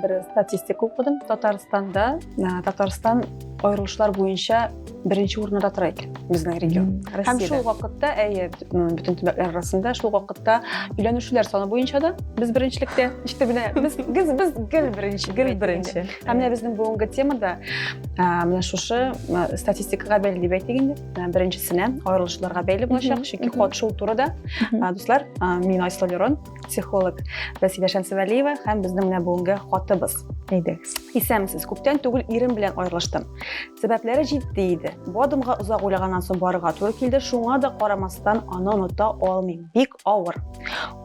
бер статистика укыдым татарстанда татарстан аерылышлар буенча беренче урында тора икән безнең регион һәм шул вакытта әйе бөтен төбәкләр арасында шул вакытта өйләнүчеләр саны буенча да без беренчелектә ишетеп менә без без гел беренче гел беренче Ә менә безнең бүгенге темада менә шушы статистикага бәйле дип әйтик инде. Беренчесенә аерылышларга бәйле булачак, чөнки ход шул турыда. Дуслар, мин Айсыл Лерон, психолог Василия Шәмсевәлиева һәм безнең менә бүгенге хатыбыз. Әйдәгез. Исәнмесез. Күптән түгел ирем белән аерылыштым. Сәбәпләре җитди иде. Бу адымга озак уйлаганнан соң барырга туры килде. Шуңа да карамастан аны оныта алмыйм. Бик авыр.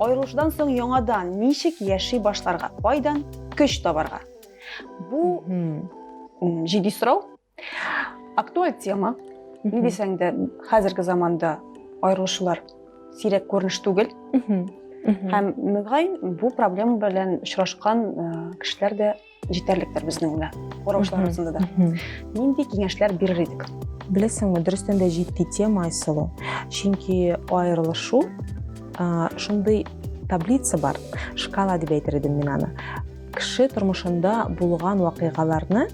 Аерылышудан соң яңадан ничек яши башларга, кайдан көч табарга? Бу җиди сорау. Актуаль тема. Ни дисәң дә, хәзерге заманда аерылышулар сирәк күренеш түгел. Һәм мөгаен бу проблема белән очрашкан кешеләр дә җитәрлектер безнең белән караучылар арасында да нинди киңәшләр бирер идек беләсеңме дөрестән дә җитди тема айсылу чөнки аерылышу шундый таблица бар шкала дип әйтер идем мин аны кеше тормышында булган вакыйгаларны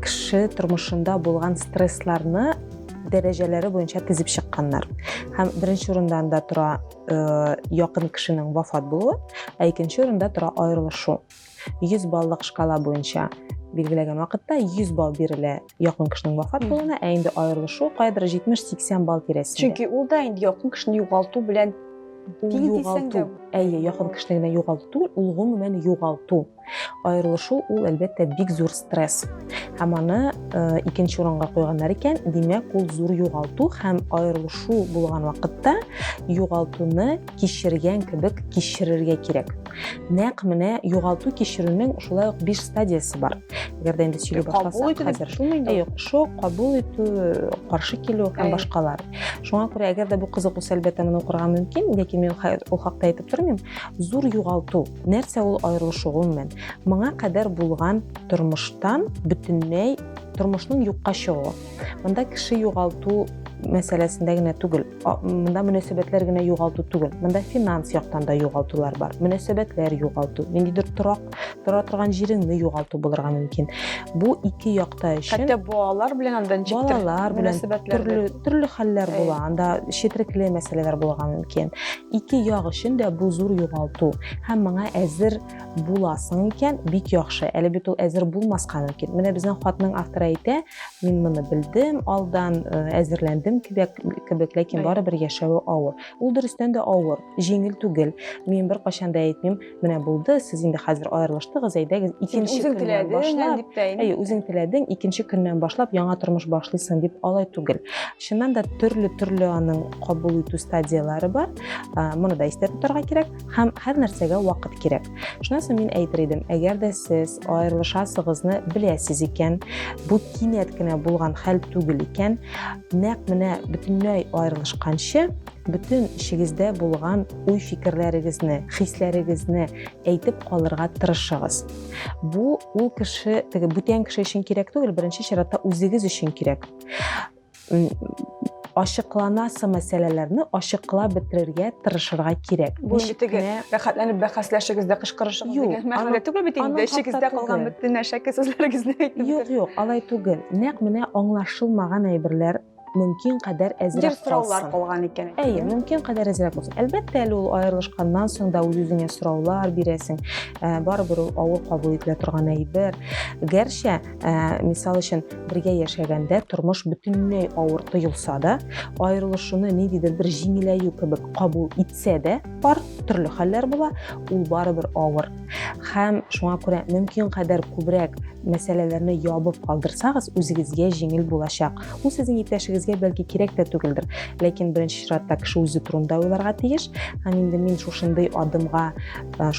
кеше тормышында булган стрессларны дәрәҗәләре буенча тезеп чыкканнар һәм беренче урында анда тора якын кешенең вафат булуы ә икенче урында тора аерылышу 100 баллык шкала буенча билгеләгән вакытта 100 балл бирелә якын кешенең вафат булуына, ә инде аерылышу кайдыр 70-80 балл тирәсендә. Чөнки ул да инде якын кешене югалту белән югалту. Әйе, якын кешене генә югалту түгел, ул гомумән югалту. Аерылышу ул әлбәттә бик зур стресс. Һәм аны э, икенче урынга куйганнар икән, димәк, ул зур югалту һәм аерылышу булган вакытта югалтуны кичергән кебек кичерергә кирәк. Нәкъ менә югалту кичерүнең шулай ук биш стадиясе бар. Әгәр дә инде сөйли башласак, хәзер юк, шок, кабул итү, каршы килү һәм башкалар. Шуңа күрә әгәр дә бу кызык үсә әлбәттә моны укырга мөмкин, ләкин мин ул хакта әйтеп тормыйм. Зур югалту, нәрсә ул аерылышу гомумән? Моңа кадәр булган тормыштан бөтенләй тормышның юкка чыгуы. Монда кеше югалту мәсьәләсендә генә түгел, Монда мөнәсәбәтләр генә югалту түгел. Монда финанс яктан да югалтулар бар. Мөнәсәбәтләр югалту, ниндидер торак, тора торган җиреңне югалту булырга мөмкин. Бу ике якта өчен. Хәтта балалар белән анда ничек балалар белән төрле төрле хәлләр була. Анда четерекле мәсьәләләр булырга мөмкин. Ике як өчен дә бу зур югалту һәм моңа әзер буласың икән, бик яхшы. Әле бит ул әзер булмаска мөмкин. Менә безнең хатның авторы әйтә, мин моны белдем, алдан э, әзерләндем кебек, кебек ләкин барыбер яшәве авыр. Ул дөрестән дә авыр, җиңел түгел. Мин бер кашанда да әйтмим, менә булды, сез инде хәзер аерылыштыгыз, әйдәгез, икенче көннән башлап. Әйе, үзең теләдең, икенче көннән башлап яңа тормыш башлыйсың дип алай түгел. Чыннан да төрле-төрле аның кабул итү стадияләре бар. Э, моны да истә тотарга кирәк. Һәм һәр нәрсәгә вакыт кирәк. Шунысы мин әйтер идем, әгәр дә сез аерылышасыгызны беләсез икән, бу кинәт кенә булган хәл түгел икән, нәкъ менә бөтенләй аерылышканчы бөтен эчегездә булган уй фикерләрегезне, хисләрегезне әйтеп калырга тырышыгыз. Бу ул кеше, теге бүтән кеше өчен кирәк түгел, беренче чиратта үзегез өчен кирәк. ачыкланасы мәсьәләләрне ачыклап бетерергә тырышырга кирәк. Бу бит теге рәхәтләнеп бәхәсләшегез дә кычкырышыгыз дигән мәгънәдә түгел бит инде. Эчегездә калган бөтен әшәке сүзләрегезне әйтеп. Юк, юк, алай түгел. Нәкъ менә аңлашылмаган әйберләр мөмкин кадәр әзрәк калсын. сораулар калган икән. Әйе, мөмкин кадәр әзрәк булсын. Әлбәттә, әле ул аерылышканнан соң да үз-үзеңә сораулар бирәсең. Барыбер ул авыр кабул ителә торган әйбер. Гәрчә ә, мисал өчен бергә яшәгәндә тормыш бөтенләй авыр тоелса да аерылышуны ниндидер бер җиңеләю кебек кабул итсә дә пар төрле хәлләр була ул барыбер авыр һәм шуңа күрә мөмкин кадәр күбрәк мәсьәләләрне ябып калдырсагыз үзегезгә җиңел булачак ул сезнең иптәшегезгә бәлки кирәк тә түгелдер ләкин беренче чиратта кеше үзе турында уйларга тиеш һәм инде мин шушындый адымга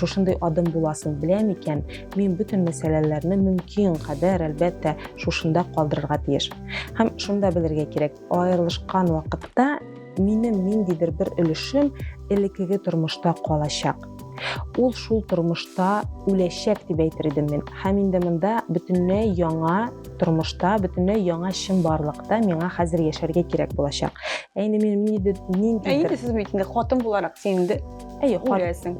шушындый адым буласын беләм икән Мин бөтен мәсьәләләрне мөмкин кадәр, әлбәттә, шушында калдырырга тиеш. Һәм шунда белергә кирәк, аерылышкан вакытта минем ниндидер бер өлешем элеккеге тормышта калачак. Ул шул тормышта үләчәк дип әйтер идем мин. Һәм инде монда бөтенләй яңа тормышта, бөтенләй яңа чын барлыкта миңа хәзер яшәргә кирәк булачак. Ә инде мин нинди Ә инде сез бит инде хатын буларак син инде Әйе, күрәсең.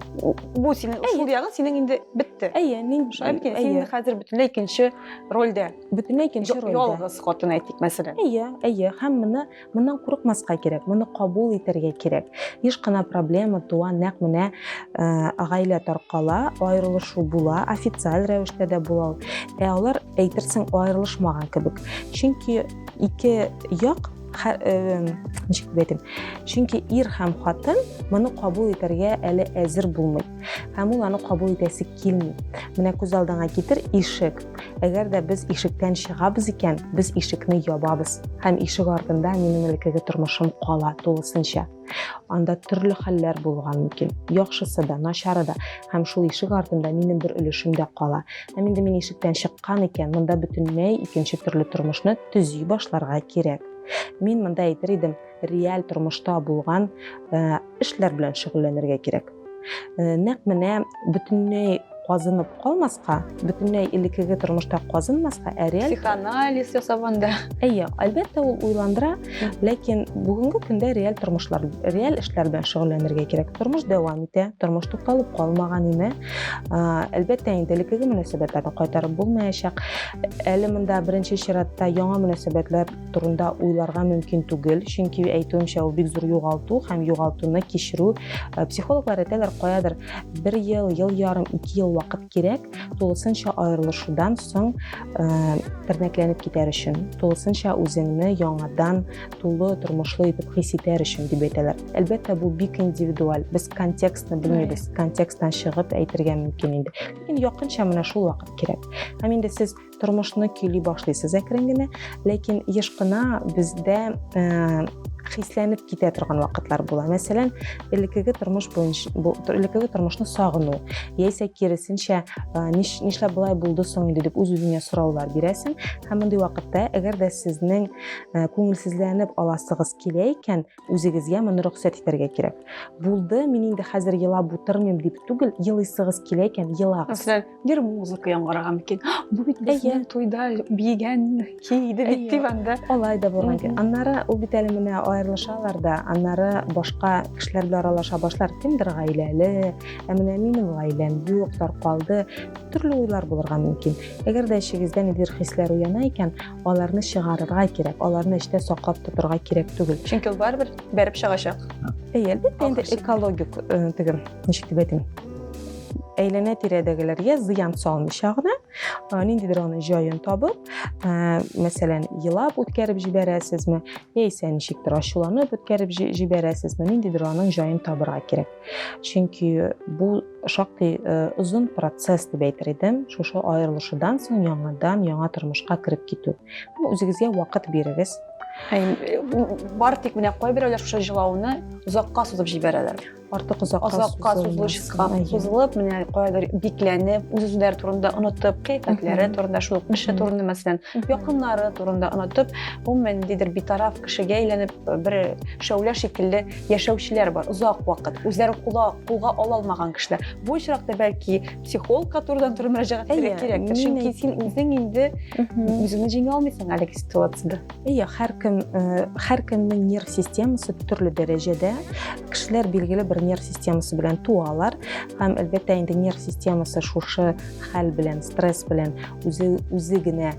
Бу синең ушул ягы синең инде бетте. Әйе, мин шулай син инде хәзер бөтенләй икенче рольдә. Бөтенләй икенче рольдә. Ялгыз хатын әйтик, мәсәлән. Әйе, әйе, һәм моны моннан курыкмаска кирәк, моны кабул итәргә кирәк. Еш кына проблема туа, нәкъ менә гаилә таркала, аерылышу була, официаль рәвештә дә була. Ә алар әйтерсең аерылышмаган кебек. Чөнки ике як ничек дип әйтим чөнки ир һәм хатын моны кабул итәргә әле әзер булмый һәм ул аны кабул итәсе килми менә күз алдыңа китер ишек әгәр дә без ишектән чыгабыз икән без ишекне ябабыз һәм ишек артында минем элеккеге тормышым кала тулысынча анда төрле хәлләр булган мөмкин яхшысы да начары да һәм шул ишек артында минем бер өлешем дә кала һәм инде мин ишектән чыккан икән монда бөтенләй икенче төрле тормышны төзи башларга кирәк. Мин монда әйтер идем, реаль тормышта булган э, эшләр белән шөгыльләнергә кирәк. Э, нәкъ менә бөтенләй казынып калмаска, бөтенләй элеккеге тормышта казынмаска, ә реаль психоанализ ясап анда. Әйе, әлбәттә ул уйландыра, ләкин бүгенге көндә реаль тормышлар, реаль эшләр белән шөгыльләнергә кирәк. Тормыш дәвам итә, тормыш тукталып калмаган име. Әлбәттә инде элеккеге мөнәсәбәтләрне кайтарып булмаячак. Әле монда беренче чиратта яңа мөнәсәбәтләр турында уйларга мөмкин түгел, чөнки әйтүемчә ул бик зур югалту һәм югалтуны кичерү. Э, психологлар әйтәләр, каядыр бер ел, ел ярым, ике ел вакыт кирәк тулысынча аерылышудан соң э, тернәкләнеп китәр өчен, тулысынча үзеңне яңадан тулы тормышлы итеп хис итәр өчен дип әйтәләр. Әлбәттә, бу бик индивидуаль. Без контекстны белмибез. Контексттан чыгып әйтергә мөмкин инде. Ләкин якынча менә шул вакыт кирәк. Һәм инде сез тормышны көйли башлыйсыз әкрен генә, ләкин еш кына бездә э, хисләнеп китә торган вакытлар була. Мәсәлән, элеккеге тормыш буенча элеккеге тормышны сагыну, яисә киресенчә, нишләп болай булды соң инде дип үз-үзеңә сораулар бирәсең. Һәм мондый вакытта, әгәр дә сезнең күңелсезләнеп аласыгыз килә икән, үзегезгә моны рөхсәт итәргә кирәк булды мин инде хәзер елап утырмыйм дип түгел елыйсыгыз килә икән елагыз мәсәлән бер музыка яңгыраган микән бу бит безнең туйда биегән иде бит дип анда алай да булган икән аннары ул бит әле менә аерылышалар да аннары башка кешеләр белән аралаша башлар кемдер гаиләле ә менә минем гаиләм юк таркалды төрле уйлар булырга мөмкин әгәр дә эчегездә ниндидер хисләр уяна икән аларны чыгарырга кирәк аларны эчтә саклап тотырга кирәк түгел чөнки ул барыбер бәреп чыгачак әйе әлбәттә инде экологик э, теге ничек дип әйтим әйләнә тирәдәгеләргә зыян салмыйча гына э, ниндидер аның җаен табып э, мәсәлән елап үткәреп җибәрәсезме яисә ничектер ачуланып үткәреп җибәрәсезме ниндидер аның җаен табырга кирәк чөнки бу шактый озын э, процесс дип әйтер идем шушы аерылышудан соң яңадан яңа тормышка кереп китү үзегезгә вакыт бирегез э, бар тик менә кайберәүләр шушы җылауны озакка сузып җибәрәләр артык озакка озакка сузылышка сузылып менә каядыр бикләнеп үз үзләре турында онытып кыйфәтләре турында шул ук эше турында мәсәлән якыннары турында онытып гомумән ниндидер битараф кешегә әйләнеп бер шәүлә шикелле яшәүчеләр бар озак вакыт үзләре кулга кулга ала алмаган кешеләр бу очракта бәлки психолог которыйдан туры мөрәҗәгать итәргә кирәктер чөнки син үзең инде үзеңне җиңә алмыйсың әлеге ситуацияда иә һәркем һәркемнең нерв системасы төрле дәрәҗәдә кешеләр билгеле бер нерв системасы белән туалар һәм әлбәттә инде нерв системасы шушы хәл белән стресс белән үзе үзе генә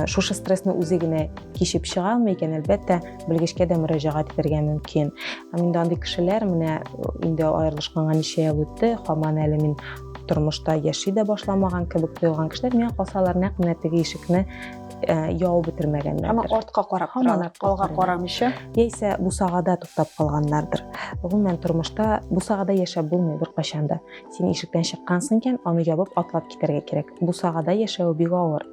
шушы стрессны үзе генә кичеп чыга алмый икән әлбәттә белгечкә дә мөрәҗәгать итәргә мөмкин һәм инде андый кешеләр менә инде аерылышканга ничә ел үтте хаман әле мин тормышта яши дә башламаган кебек тоелган кешеләр миңа калсалар нәкъ менә теге ишекне э, яу бетермәгәннәрдер һәм артка карап һаман алга карамыйча яисә бусагада туктап калганнардыр гомумән тормышта бусагада яшәп булмый беркайчан да син ишектән чыккансың икән аны ябып атлап китәргә кирәк бусагада яшәве бик авыр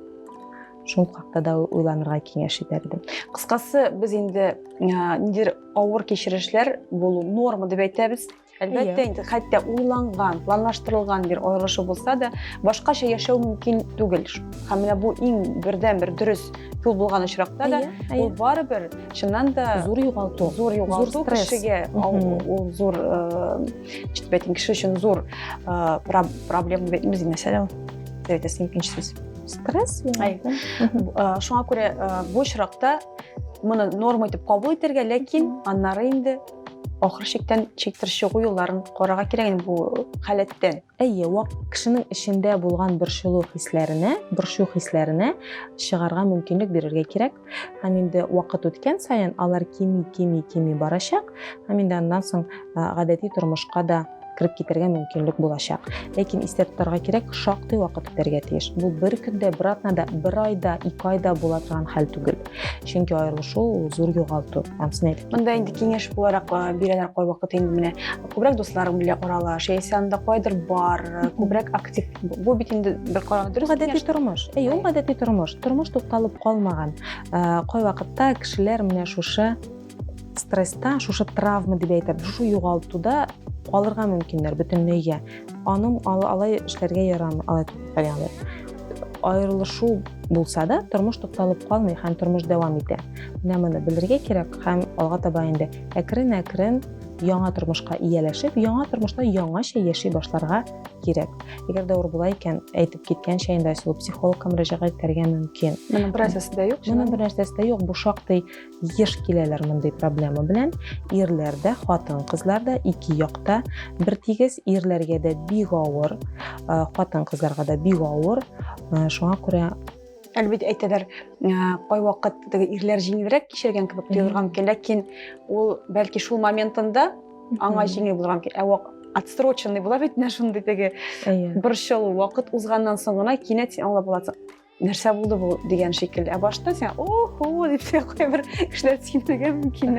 шул хакта да уйланырга киңәш итәрдем кыскасы без инде ниндидер авыр кичерешләр булу норма дип әйтәбез әлбәттә инде хәтта уйланган планлаштырылган бер аерылышу булса да башкача яшәү мөмкин түгел һәм менә бу иң бердән бер дөрес юл булган очракта да ул барыбер чыннан да зур югалту зур югалту кешегә ул зур әйтим кеше өчен зур проблема мәсьәлә ул әйтәсең икенче сүз стресс шуңа күрә бу очракта моны норма итеп кабул итәргә ләкин аннары инде ахыр чиктән чиктер чыгу юлларын карарга кирәк инде бу халәттән әйе вак кешенең эчендә булган борчылу хисләренә борчу хисләренә чыгарга мөмкинлек бирергә кирәк һәм инде вакыт үткән саен алар кими кими кими барачак һәм инде аннан соң гадәти тормышка да кереп китәргә мөмкинлек булачак ләкин истә тотарга кирәк шактый вакыт үтәргә тиеш бу бер көндә бер атнада бер айда ике айда була торган хәл түгел чөнки аерылышу ул зур югалту һәм син әйтеп монда инде киңәш буларак бирәләр кайвакыт инде менә күбрәк дусларың белән аралаш яисә анда кайдыр бар күбрәк актив бу бит инде бер караган дөрес гадәти тормыш әйе ул гадәти тормыш тормыш тукталып калмаган э, кайвакытта кешеләр менә шушы стресста шушы травма дип әйтәбез шушы югалтуда калырга мөмкиннәр бөтенләйгә аның алай эшләргә ярамый алай ягъни аерылышу булса да тормыш тукталып калмый һәм тормыш дәвам итә менә моны белергә кирәк һәм алга таба инде әкрен әкрен яңа тормышка ияләшеп, яңа тормышта яңача яши башларга кирәк. Әгәр дә була икән, әйтеп киткәнчә инде Айсылу психологка мөрәҗәгать итәргә мөмкин. Моның бернәрсәсе дә юк. Моның бернәрсәсе дә юк. Бу шактый еш киләләр мондый проблема белән. Ирләр дә, хатын-кызлар да ике якта бер тигез, ирләргә дә бик авыр, хатын-кызларга да бик авыр. Шуңа күрә Әле бит әйтәләр, кайвакыт теге ирләр җиңелрәк кичергән кебек тоелырга мөмкин, ләкин ул бәлки шул моментында аңа җиңел булырга мөмкин. Ә вак отсроченный була бит менә шундый теге борчылу вакыт узганнан соң гына кинәт син аңлап аласың нәрсә булды бу дигән шикелле ә башта сен охо дип кайбер кешеләр сөенергә мөмкин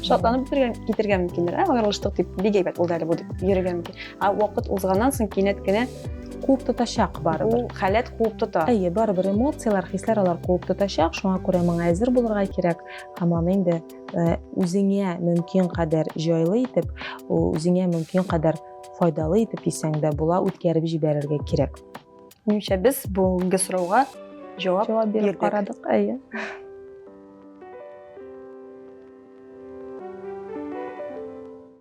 шатланып китергә мөмкиннәр ә аерылыштык дип бик әйбәт булды әле бу дип йөрергә мөмкин ә вакыт узганнан соң кинәт кенә куып тотачак барыбер. Ул халәт куып тота. Әйе, барыбер эмоцияләр, хисләр алар куып тотачак, шуңа күрә моңа әзер булырга кирәк һәм аны инде э, үзеңә мөмкин кадәр җайлы итеп, үзеңә мөмкин кадәр файдалы итеп дисәң дә була, үткәреп җибәрергә кирәк. Минемчә без бүгенге сорауга җавап, җавап биреп карадык. Әйе.